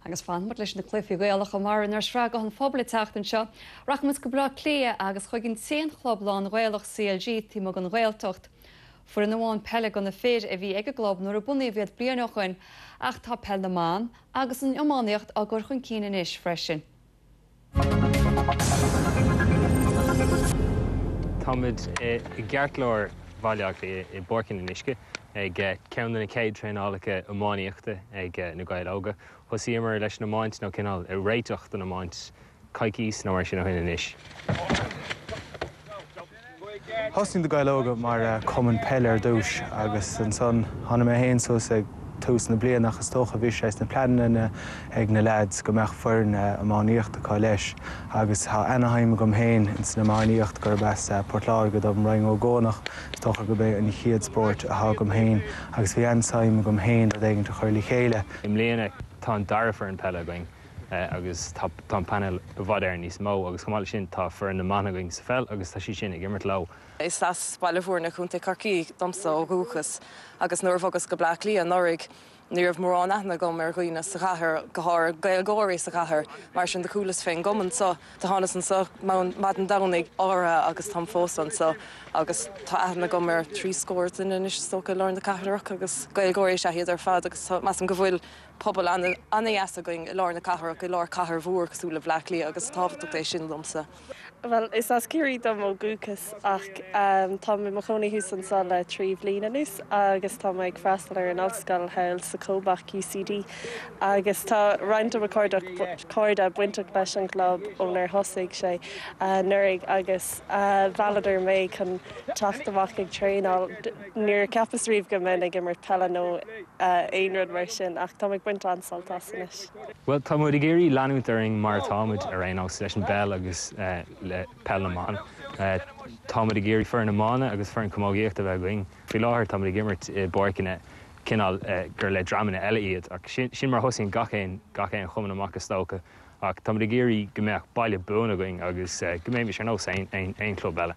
Agus fanfaimid leis na cluichí Gaelacha mar inár sraith Guth an Phobail an tseachtain seo rachaimid go Baile Átha Cliath agus chuig an t-aon chlub lán-Ghaelach CLG taobh amuigh den Ghaeltacht. Foireann amháin peile do na fir a bhí ag an gclub nuair a bunaíodh iad bliain ó shoin ach tá peil na mban agus an iománaíocht á gcur chun cinn anois freisin. Táimid i gceartlár Bhaile Átha Cliath i bPáirc an Fhionnuisce ag ceann de na chéad traenálacha iománaíochta ag Na Gaeil Óga. Thosaíomar leis an iomáint, nó cineál réiteach don iomáint, coicís nó mar sin ó shin anois. Thosnaigh Na Gaeil Óga mar chumann peile ar dtúis agus ansan tháinig mé féin suas ag tús na bliana ach is dócha bhí sé sna pleananna ag na leaids go mbeadh foireann iománaíocht acu leis agus tá ana-shuim agam féin ins an iománaíocht gurb as Port Láirge dom Rinn Ó gCuanach is dócha gurb é an chéad spóirt athá agam féin agus bhí an-suim agam féin rud éigint a chur le chéile. I mbliana tá an dara foireann peile againn agus tá an painéal i bhfad Éireann níos mó agus chomh maith leis sin tá foireann na mban againn sa pheil agus tá siad sin ag imirt leo. Is as Baile Bhúirne, Co. Chorcaí domsa ó dhúchas agus nuair a bhogas go Bleá Cliath anuraidh ní raibh mórán aithne agam ar dhaoine sa chathair, go háirithe Gaeilgeoirí sa chathair, mar sin de chualas fén gcumann seo, do thánas anseo maidin Domhnaigh áirithe agus táim fós anseo agus tá aithne agam ar thrí scór duine anois is dócha i lár na cathrach agus Gaeilgeoirí is ea iad ar fad agus measaim go bhfuil pobal an-deas againn i lár na cathrach, i lár cathair mhór cosúil le Bleá Cliath agus is tábhachtach é sin domsa. Bhuel, is as Ciarraí dom ó dhúchas ach táim i mo chónaí thuas anso le trí bhliain anuas agus táim ag freastal ar an Ollscoil thall sa COBÁC, UCD, agus tá roinnt de mo cairde bainteach leis an gclub ónar thosaigh sé anuraidh agus mhealladar mé chun teacht amach ag traenáil. Níor cheapas riamh go mbeinn ag imirt peile nó aon rud mar sin ach táim ag baint an-sult as anois. Bhuel, tá muid ag iarraidh leanúint orainn mar atá muid ar aon nós, leis an bpeil agus le peil na mban. Tá muid ag iarraidh foireann iomána agus foireann camógaíochta a bheith againn. Faoi láthair tá muid ag imirt i bpáirceanna cineál gur le dreamanna eile iad ach sin sin mar a thosaíonn gach aon gach aon chumann amach is dócha ach tá muid ag iarraidh go mbeadh baile buan againn agus go mbeimis ar nós aon aon aon chlub eile.